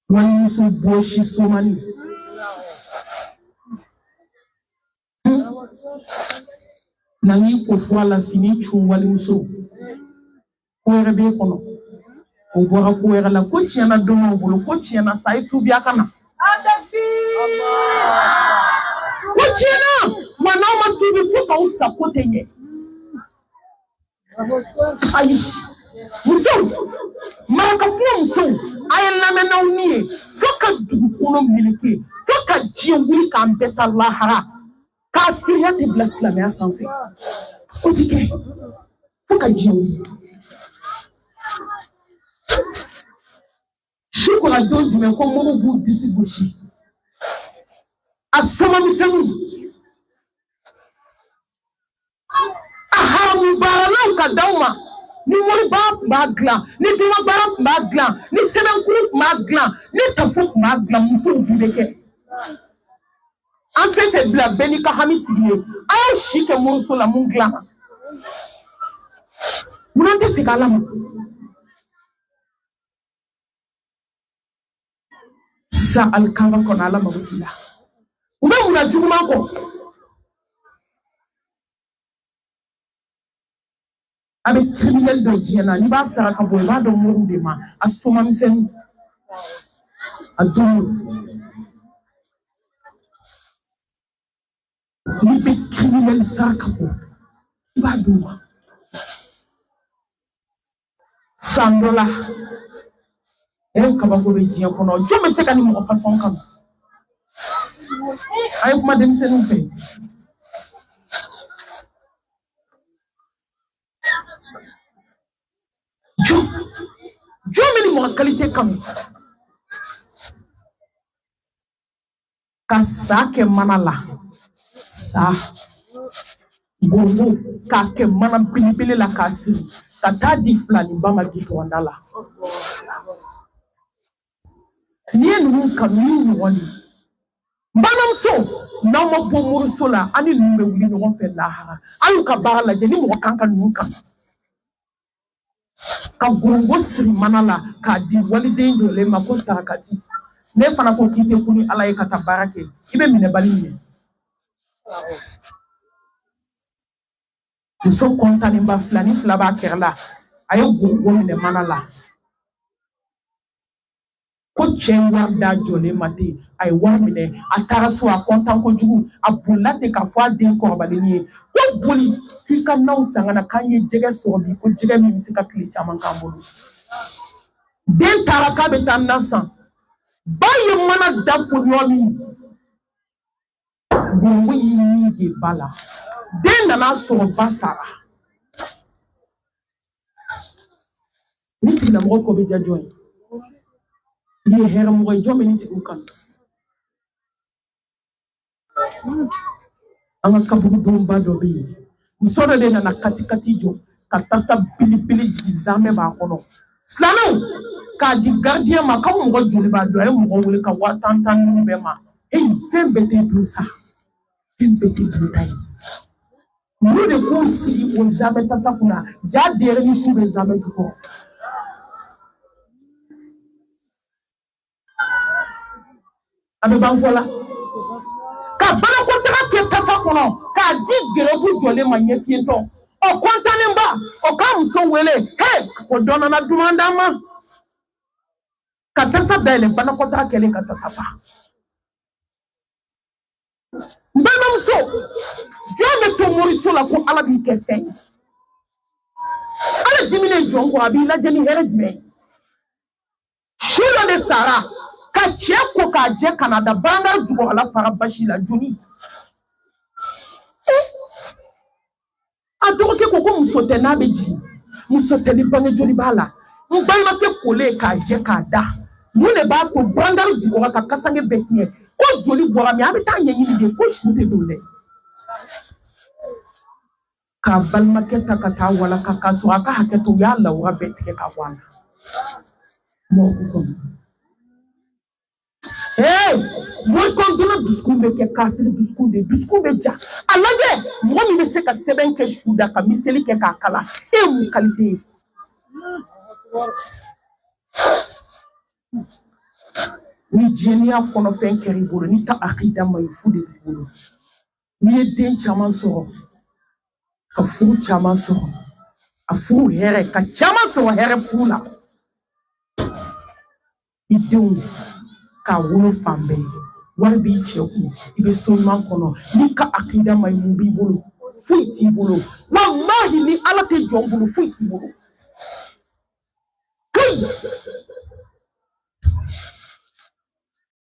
walimuso bɔsi soma ni na n ko fɔ a la fini cun walimuso ko wɛrɛ b'e kɔnɔ o bɔra ko wɛrɛ la ko tiɲɛna don b'aw bolo ko tiɲɛna sa i tubiya ka na. ko tiɲɛna wa n'aw ma tubi fo k'aw sa ko tɛ ɲɛ. ayi musow marakakungo musow a y'a lamɛn n'aw ni ye fo ka dugukolo meleke fo ka diɲɛ wuli k'an bɛɛ taa lahara kafiriya tɛ bila silamɛya sanfɛ o ti kɛ fo ka diɲɛ wuli su kɔnɔ don jumɛn ko moriw b'u disi gosi a soma misɛnninw a haramu baaralaw ka d'aw ma ni moribaara tun b'a dilan ni domabaara tun b'a dilan ni sɛbɛnkuru tun b'a dilan ni tafo tun b'a dilan musow tun bɛ kɛ an tɛ tɛ bila bɛɛ n'i ka hami sigi ye a y'aw si kɛ moriso la mun dilanna mun na an tɛ segin ala ma sa alikaba kɔnɔ ala mago t'i la u bɛ mun na juguman ko a bɛɛ kiriminɛli don diɲɛ na n'i b'a saraka bɔ i b'a d'o moriw de ma a soma misɛnnin a dun n'i bɛ kiriminɛli saraka bɔ i b'a d'u ma san dɔ la o kabako bɛ diɲɛ kɔnɔ jɔn bɛ se ka nin mɔgɔ fasɔn kanu a ye kuma denmisɛnninw fɛ jɔn jɔn bɛ nin mɔgɔ kalite kanu ka sa kɛ mana la sa ngɔrɔngɔ k'a kɛ mana pilipili la k'a siri ka taa di filaniba ma gitɔnda la n'i ye ninnu kanu ni ɲɔgɔn de n balimamuso n'aw ma bɔ moriso la aw ni ninnu bɛ wuli ɲɔgɔn fɛ lahara a y'u ka baara lajɛ ni mɔgɔ kan ka ninnu kanu ka ngɔrɔngɔ siri mana la k'a di waliden jɔlen ma ko sarakati ne fana ko k'i tɛ ku ni ala ye ka taa baara kɛ i bɛ minɛbali minɛ muso kɔntanenba filani fila b'a kɛrɛ la a ye ngɔrɔngɔ minɛ mana la ko cɛ ye wari d'a jɔlen ma ten a ye wari minɛ a taara so a kɔntan kojugu a bolila ten k'a fɔ a den kɔrɔbalen ye ko boli k'i ka naw san ka na k'an ye jɛgɛ sɔrɔ bi ko jɛgɛ min bɛ se ka tile caman k'an bolo den taara k'a bɛ taa na san ba ye mana da foni yɔrɔ min Ngɔrɔngɔ y'i kɛ ba la den nana sɔrɔ ba sara nin tigilamɔgɔ ko bɛ diya jɔn ye nin ye hɛrɛmɔgɔ ye jɔn bɛ nin tigiw kanu an ka kaburudonba dɔ bɛ yen muso dɔ de nana katikati jɔ ka tasa belebele jigin zamɛ b'a kɔnɔ silamɛw k'a di garidiyɛn ma k'aw mɔgɔ joli b'a dun a ye mɔgɔ wele ka waa tan tan ninnu bɛɛ ma eyi fɛn bɛɛ tɛ dun sa fɛn bɛɛ tɛ dunta ye olu de k'u sigi o zamɛ tasa kunna jaa denyɛrɛnin su bɛ zamɛ jukɔrɔ a bɛ ban fɔla ka banakɔtaga kɛ tasa kɔnɔ k'a di garibu jɔlen ma ɲɛfiyentɔ o kɔntanenba o k'a muso wele he ko dɔ nana duman d'an ma ka tasa dayɛlɛ banakɔtaga kɛlen ka tasa fa n balimamuso jɔn bɛ to moriso la ko ala b'i kɛ fɛn ye ala diminen jɔn kɔ a b'i lajɛ ni hɛrɛ jumɛn ye su dɔ de sara ka cɛ ko k'a jɛ ka n'a da barangari jukɔrɔla fara basi la joli eh! a dɔgɔkɛ ko ko muso tɛ n'a bɛ jigin muso tɛ ni bange joli b'a la n balimakɛ kolen k'a jɛ k'a da mun de b'a to barangari jukɔrɔ ka kasange bɛɛ tiɲɛ ko joli bɔra min a bɛ taa ɲɛɲini de ko su tɛ don dɛ Ka balimakɛ ta ka taa walaka k'a so a ka hakɛ to ya ala bɛ tigɛ ka bɔ la dusukun bɛ kɛ kafiri dusukun de dusukun bɛ ja a lajɛ mɔgɔ min bɛ se ka sɛbɛn kɛ su da ka miseli kɛ k'a kala e mun kalite ni diɲɛya kɔnɔfɛn kɛra i bolo n'i ta akida ma ɲi fu de b'i bolo n'i ye den caman sɔrɔ ka furu caman sɔrɔ a furu hɛrɛ ka caman sɔrɔ hɛrɛ furu la i denw k'a wolo fan bɛɛ wari b'i cɛ kun i bɛ so ɲuman kɔnɔ n'i ka akida ma ɲi mun b'i bolo foyi t'i bolo walahi ni ala tɛ jɔn bolo foyi t'i bolo kayi